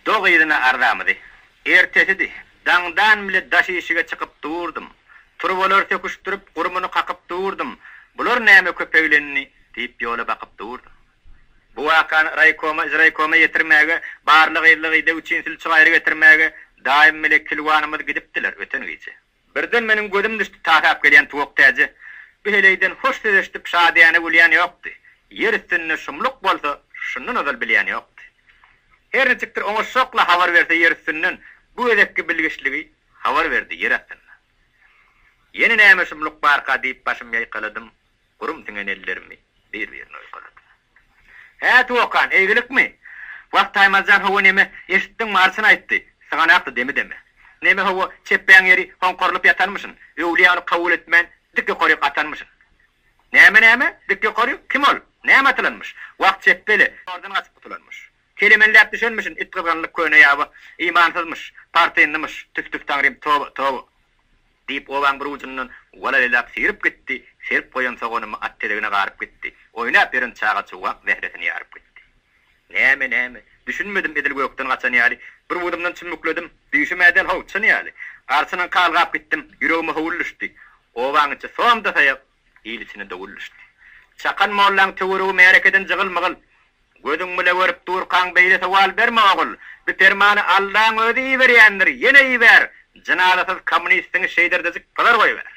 Dog yzyna arzamyzy. Ertesidi. Daňdan bile daş işige çykyp durdum. Turbalary söküşdirip, gurumyny kakyp durdum. Bular näme köpeglendi? diýip ýola bakyp durdum. Bu wakany raýkoma, izraýkoma ýetirmäge, barlygyzlygy ideg üçin sülçi-gaýry getirmäge daýym bile kilwanymyz gidipdiler öten gije. Birden meniň gözüm düşdi tasap gelýän Tuwak täjä. Bu heleýden hoş söz eşidip şadyýana gülýän ýokdy. Ýer üstünde şumluk bolsa, şundan ozal bilýän ýokdy. Her niçikdir oňaşjakla habar berse ýer üstünden, bu gezekki bilgiçligi habar berdi ýer astyndan. Ýene näme şumluk barka diýip başym ýaýkaladym, gurum siňen ellerimi bir-birine oýkaladym. Hä, Tuwakan, eýgilikmi? Wah, Taýmazjan, hawa, neme, eşitdiňmi, arçyn aýtdy. Syganakdy demi-demi. Neme, hawa, çepbäň ýeri hoňkarylyp ýatanmyşyn, öwlüýä ony kabul etmän, dik ýokaryk atanmyşyn. Näme, näme? Dik ýokaryk? Kim ol? Näme atylanmyş? Wah, çepbe-le, zordan gaçyp gutulanmyş. Kelemenläp düşenmişin, itgyzgynlyk köne ýaba, imansyzmyş, partynlymyş, tüf-tüf taňrym, toba, toba. Diýip, obaň bir ujundan walalaýlap sigrip gitdi, serip goýan soganymy at tezegine garyp gitdi, oýnap ýören çaga-çuwak zähresini ýaryp gitdi. Näme, näme? Düşünmedim edil gökden gaçan ýaly, bir wudumdan çümmükledim, düýşüm-ä däl-how, çyn ýaly. Garçynyňky algap gitdim, ýüregime howul düşdi. Obaň içi som-da saýak. Il içine dowul düşdi. Çakan mollaň töweregi märekeden jygyl-mygyl. Gözüň bile görüp durkaň beýle sowal berme, ogul. Bu permany Allaň özi iberýändir, ýene iber! Jynazasyz kommunistiňi şeýderdejik pygar goýber.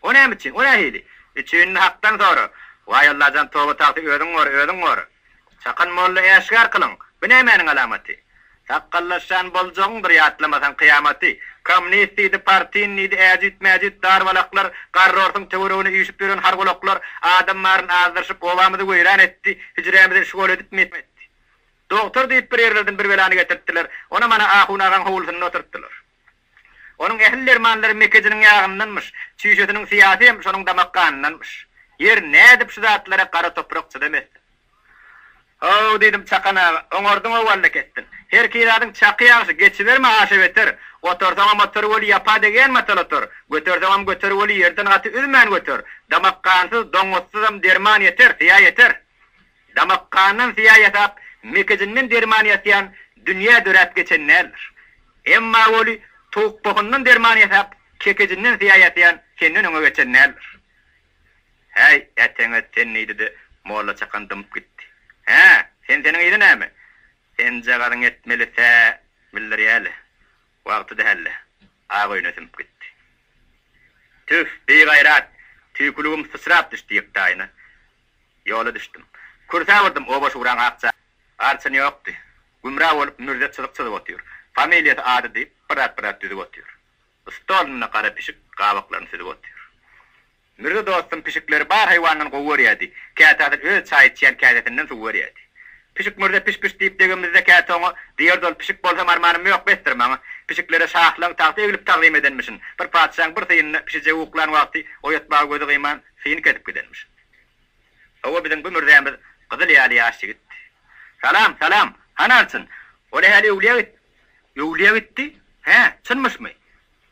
O näme üçin? O nähili? Üçinini Hakdan sora. Waý, Allajan, toba-tagty özüň gora, özüň gora. Çakan molla äşgär kylyň, bu nämäniň alamaty? Sakgallaşýan boljagyňdyr ýatlamasaň kyýamaty. Komnist diýdi, partin diýdi, äjit-mäjit darbalaklar, garrorsyň töweregine üýşüp ýören hargulaklar adam baryny azdyryşyp, obamyzy weýran etdi, hüjrämizi şgol edipmi etdi. Dogtor diýip bir ýerlerden bir belany getirtdiler, onam ana ahun agaň howlusynda oturtdylar. Onuň ähli dermanlary mekejiniň ýagyndanmyş, çüýşesiniň syýasy hem şonuň damak ganyndanmyş. Ýer, nädip şu zatlara gara toprak çydam etsin? Haw, diýdim, Çakan aga, oňardyň-ow walla kesdin. Herki zadyň çaky ýagşy, geçiberme aşa beter. Otursaňam otur weli ýapa degýän matal otur. Göterseňem göter weli ýerden gaty üzmän göter. Damak gansyz, doňňuzsyzam derman ýeter, syýa ýeter. Damak gandan syýa ýasap, mekejinden derman ýasýan dünýä döräp geçen däldir. Emma weli, towuk bokundan derman ýasap, kekejinden syýa ýasýan senden öňe geçen däldir. Häý, äteňet sen diýdi-de, Molla Çakan dymyp gitdi. Hä, sen seniň yzy näme? Senjagazyň etmeli sä bildirýä-le. Wagty däl-le. Ak öýüne sümüp gitdi. Tüf, bigaýrat! Tüýküligim syçrap düşdi ýektaýyna. Ýola düşdüm. Kürsä burdum, oba-şuraň akja. Arçyn ýokdy. Gümra bolup Mürze çyzyk çyzyp otyr. Familiýasy, ady diýip, birat-birat düzüp otyr. Stolunda gara pişik gabaklaryny süzüp otyr. Mürze dostum pişikleri bar haýwandan gowy görýärdi. Käte asyl öz çaý içýän käsesinden suw berýärdi. Pişik Mürze piş-piş diýip degenimizde käte oňa, Diýerdi ol, pişik bolsam armanym ýok, besdir maňa. Pişiklere şahlaň tagta eglip tagzym edenmişin. Bir patyşaň bir syýynyny pişijegi uklan wagty oýatmaga gözi gyman, syýyny kesip gidenmişin. Hawa, biziň bu mürzämiz gyzyl ýaly ýaş ýigit. Salam, salam! Hany Arçyn? Ol ähli öwlüýä gitdi. Öwlüýä gitdi? Hä, çynmyşmy?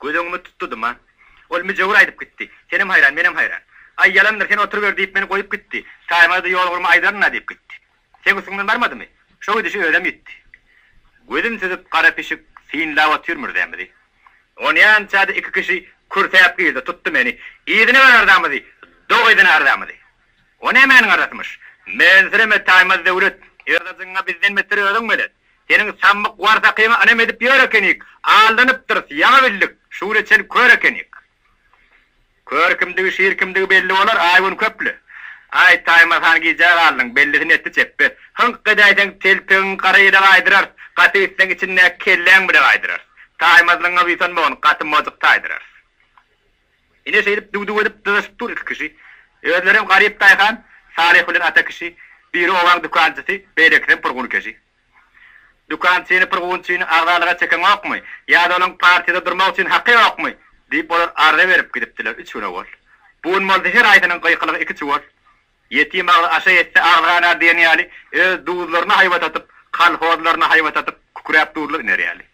Göz öňümi tutdudym-a. Ol müjewür aýdyp gitdi. Senem haýran, menem haýran. Aý, ýalandyr, sen oturyber diýip meni goýup gitdi. Taýmaza-da ýolugrmy aýdaryn-a diýip gitdi. Seň üstüňden barmadymy? Şo gidişi özem ýitdi. Gözün süzüp gara pişik synlap otyr mürzämizi. Onýança-da iki kişi kürsäp girdi, tutdy meni. Yzyna bar arzamyzy, dog yzyna arzamyzy. O nämäniň arzasymyş? Mensireme Taýmaz Döwlet, yzajyňa bizden beter özüň belet. Seniň sammyk warsakyňa ynam edip ýör ekenik, aldanypdyrys, ýaňy bildik, şu güne çen kör ekenik. Kör kimdigi, şir kimdigi belli bolar, Aýgün köpli. Aý, Taýmaz han gijä galdyň, bellisini etdi çepbe. Hyňk edäýseň telpegiň gara ýele gaýdyrarys, gaty üýtseň içindäki kelläň bile gaýdyrarys. Taýmazlygyňa buýsanmagyn, gaty mojuk taýdyrarys. Ine şeýdip düw-düw edip dyzaşyp dur iki kişi. Özlerem garyp daýhan, Salyh bilen ata kişi. Biri obaň dükançysy, beýlekisem purgun keşi. Dükan seni bir gün üçin agzalyga çekeňokmy? Ýa-da onuň partiýada durmak üçin haky ýokmy? diýip, olar arza berip gidipdiler üç gün owal. Bu gün bolsa her haýsynyň gykylygy iki çuwal. Ýetim agzy aşa ýetse agzy ganar diýen ýaly, öz duzlaryna haýbat atyp, kolhozlaryna haýbat atyp, kükräp duzlar iner ýaly.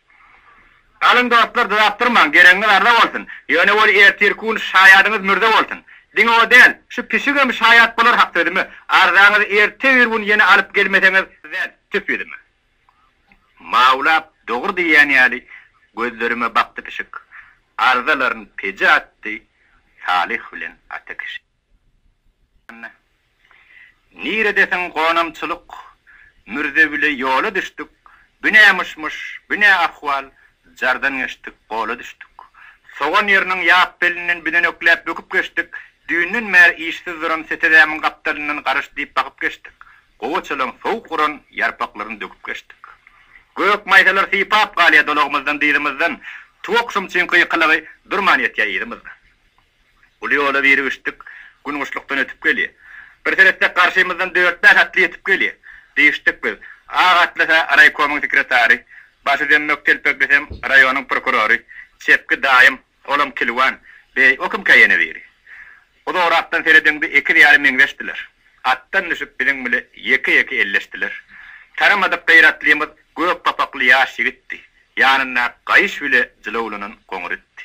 Galyň dostlar dodap durmaň geregiňiz arza bolsun ýöne ol ertir kun şaýadyňyz mürze bolsun diňe o däl şu pişigem şaýat bolar hak sözüme arzaňyzy erte bir gün ýene alyp gelmeseňiz däl tüp ýüzüme mawlap dogry diýýän ýaly gözlerime bakdy pişik arzalaryny peje atdy Salyh bilen Atakişi. Niredesiň gonamçylyk Mürze bile ýola düşdük Bu nä myş-myş, bu nä ahwal Jardan geçdik, gola düşdük. Sogan ýeriniň ýap belinden Büdenekläp böküp geçdik Düýnden bäri işsiz duran Setezemin gapdalyndan Garyş diýip bakyp geçdik Gowaçalaň sowuk uran Ýarpaklaryn döküp geçdik. Gök maýsalar sypap galýa Dolagymyzdan, dyzymyzdan Tuwakşym çüňki ýykylygy Durman ýetýä yzymyzdan. Uly ýola biri üçdük Gün guşlukdan ötüp gelýär. Bir seretsek garşymyzdan dört-bäş atly ýetip gelýär. Diýişdik biz. Ak atlysa raýkomyň sekretary, başy zemmok telpeklisem raýonyň prokurory, çepki daýym, olam kilwan. Beý, o kimkä ýene biri? Uzagrakdan seredeňde ekiz ýaly meňzeşdiler. Atdan düşüp biziň bile ýeke-ýeke elleşdiler. Tanamadyk gyratlymyz gök papakly ýaş ýigitdi. Ýanyndaky gaýyş bile jylawlanan goňur itdi.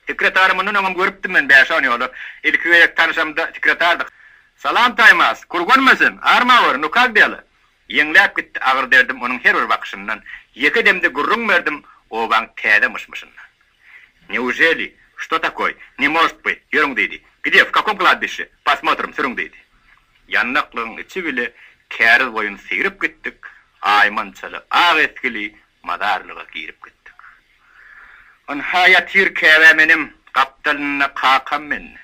Sekretary mundan öňem görüpdim men bäş-on ýola. Ilki gezek tanyşamda sekretardyk. Salam Taýmaz! Kurganma sen! Armawr! Nu kak dela? Ýeňläp gitdi agyr derdim onuň her bir bakyşyndan. Ýeke demde gürrüň berdim obaň täze myş-myşyndan. Neujeli? Što takoý? Ne most by? Ýörüň diýdi. Gde? W kakom kladbişşe? Posmotrim, sürüň diýdi. Ýanaklygyň içi bile käriz boýun seýrip gitdik, aýman çala ak esgili, Mazarlyga girip gitdik. Ynha ýatyr käbäm enem gapdalynda kakam mende.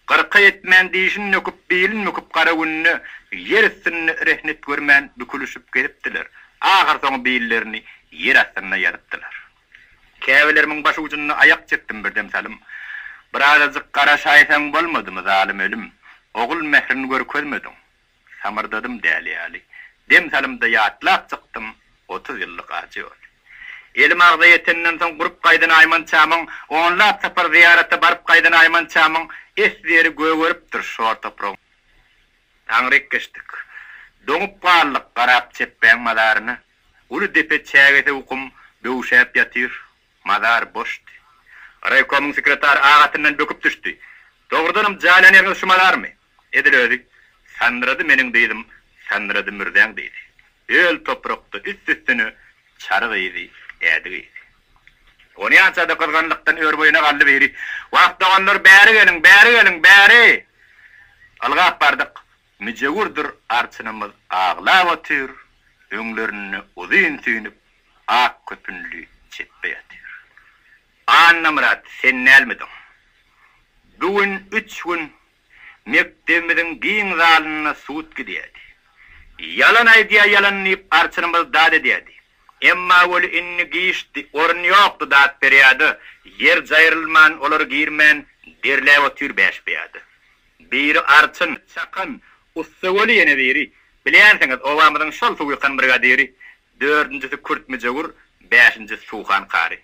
Gyrka ýetmän dişini nöküp bilin büküp gara günde ýer üstünde rehnet görmän bükülişip gezipdiler. Ahyrsoňy billerini ýer astynda ýazypdylar. Käbelerimiň baş ujunda aýak çekdim birdem salym. Birazajyk garaşaýsaň bolmadymy zalym ölüm. Ogul mährini görkezmediň. Samyrdadym däli ýaly. Dem salymda ýatlap çykdym otuz ýyllyk ajy ýoly. Elim agza ýetenden soň gurup gaýdan aýmançamyň, onlap sapar zyýarata baryp gaýdan aýmançamyň esberi gögeripdir şor topragyň. Aňryk geçdik. Doňup galdyk garap çepbäň mazaryna. Uly depe çägesi ukum böwşäp ýatyr. Mazar boşdy. Raýkomyň sekretary agatyndan böküp düşdi. Dogrudanam jaýlan ýeriňiz şu mazarmy? Edil özi, Sanrady meniň dyzym, sanrady mürzäň dyzy. Öl toprakda üst-üstüne çary gyzy, ädi gyzy. Onýança-da gyzganlykdan ör-boýuna galdy biri. Wah, doganlar, bäri geliň, bäri geliň, bäri! Ylgap bardyk. Müjewürdir arçynymyz aglap otyr, öňlerinde uzyn süýnüp, ak köpünli çepbe ýatyr. Annamyrat, sen dälmidiň? Bu gün üç gün Mekdebimiziň giň zalynda sud gidýärdi. Ýalan aýdýar ýalan diýip arçnymyz dat edýärdi. Emma weli indi giçdi, orun ýokdy dat berýärdi, ýer jaýrylman olar girmän derläp otyr bäş pyýada. Biri arçyn, çakan, ussa weli ýene biri, bilýänsiňiz obamyzyň şol suwykan brigadiri, dördünjisi kürt müjewür, bäşinjisi suhan kary.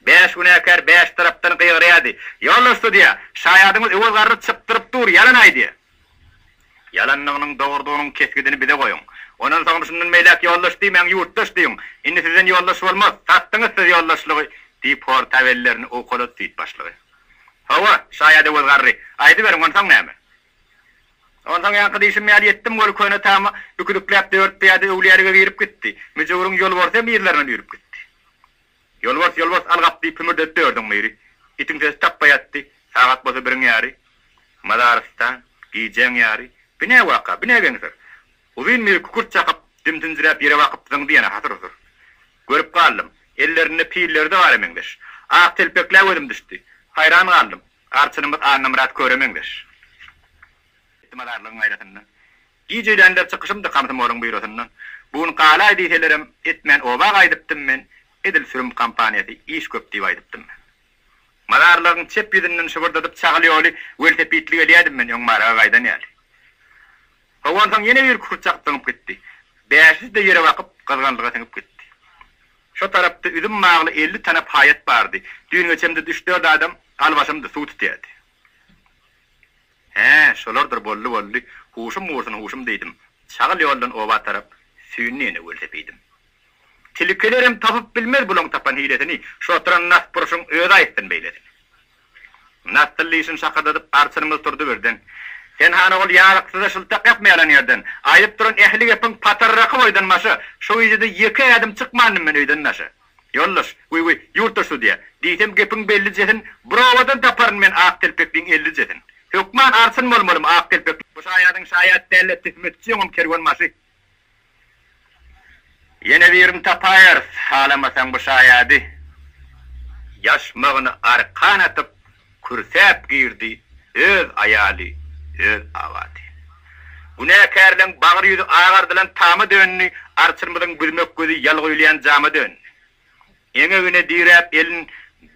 Bäş günäkär bäş tarapdan gygyrýardy, Ýoldaş sudýa, şaýadyňyz Öwez garry çykdyryp dur, ýalan aýdýar. Ýalanynyň dogrudygynyň kesgidini bize goýuň. Ondan soňra şundan beýläk ýoldaş diýmäň, ýurtdaş diýiň. Indi sizden ýoldaş bolmaz. Satdyňyz siz ýoldaşlygy, diýip, hortab ellerini owkalady süýt başlygy. Hawa, şaýat Öwez garry, aýdyberiň, onsoň näme? Onsoň ýaňky diýşim ýaly etdim, ol köne tama üküdikläp dört pyýada öwlüýälige girip gitdi. Müjewüriň ýolborysy hem yzlaryndan üýrüp gitdi. Ýolbars, ýolbars, al gap! diýip hümürdedip dördiň biri. Itiň sesi tapba ýatdy. Sagat bolsa biriň ýary. Mazarystan, gijäň ýary. Bi nä waka? Bi nä geňsir? Uzyn biri kükürt çakyp, dimsinjiräp ýere bakyp zyňdy ýene hasyr-husur. Görüp galdym. Ellerinde pilleri-de bara meňzeş. Ak telpekle gözüm düşdi. Haýran galdym. Arçynymyz Annamyrat köre meňzeş. Mazarlygyň gaýrasyndan Gijelenler çykyşymdy komsomolyň býurosyndan. Bu gün galaý diýselerem, etmän oba gaýdypdym men, edil sürüm kompaniýasy iş köp diýip aýdypdym men. Mazarlygyň çep ýüzünden şybyrdadyp çagyl ýoly welosipedli gelýädim men öň Maraga gaýdan ýaly. Soň onsoň ýene bir kükürt çakyp zyňyp gitdi. Bäşisi-de ýere bakyp, gyzgynlyga siňip gitdi. Şo tarapda üzüm bagly elli tanap haýat bardy. Düýn geçemde üç-dört adam albaşymdy, suw tutýardy. Hä, şolardyr, boldy, boldy. Huşum gursun, huşum diýdim. Çagyl ýoldan oba tarap süýndi ýene welsepeýdim. Tilkilerem tapyp bilmez bulaň tapan hilesini, şu oturan nasburşyň özi aýtsyn beýlesini. Nasdyl dişini şakyrdadyp arçynymyz turdy birden. Sen han ogul ýazyksyza şyltak ýapma ýalan ýerden. Aýdyp duran ähli gepiň patarraky boýdan başa. Şu gije-de ýeke ädim çykmandym men öýden daşa. Ýoldaş, wiwi, ýurtdaş sudýa, diýsem gepiň bellijesin, bir owadan taparyn men ak telpekliň ellijesin. Hökman arsyn bolmalym ak telpekli. Bu şaýadyň şaýat däl-de töhmetçi ýoňam kerwenbaşy. Ýene birini tapaýarys, halamasaň bu şaýady. Ýaşmagyny arkan atyp. Kürsäp girdi öz aýaly, öz awady. Günäkärleň bagyr ýüzi agardylan tama döndi, arçyrymyzyň büzmek gözi ýal guýulýan jama döndi. Eňegine diräp elin,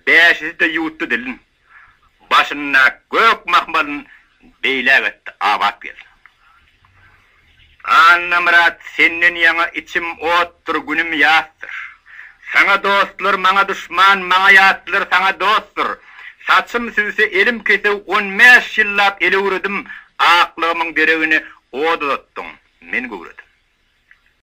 bäşisi-de ýuwutdy dilin. Başynda gök mahmalyn Beýläk etdi abat gelsin. Annamyrat senden ýaňa içim otdur günüm ýasdyr Saňa dostlar maňa duşman maňa ýatlar saňa dostdur Saçym süwse elim kesew on bäş ýyllap el öwredim Aklygymyň deregine ot uzatdyň men göwredim.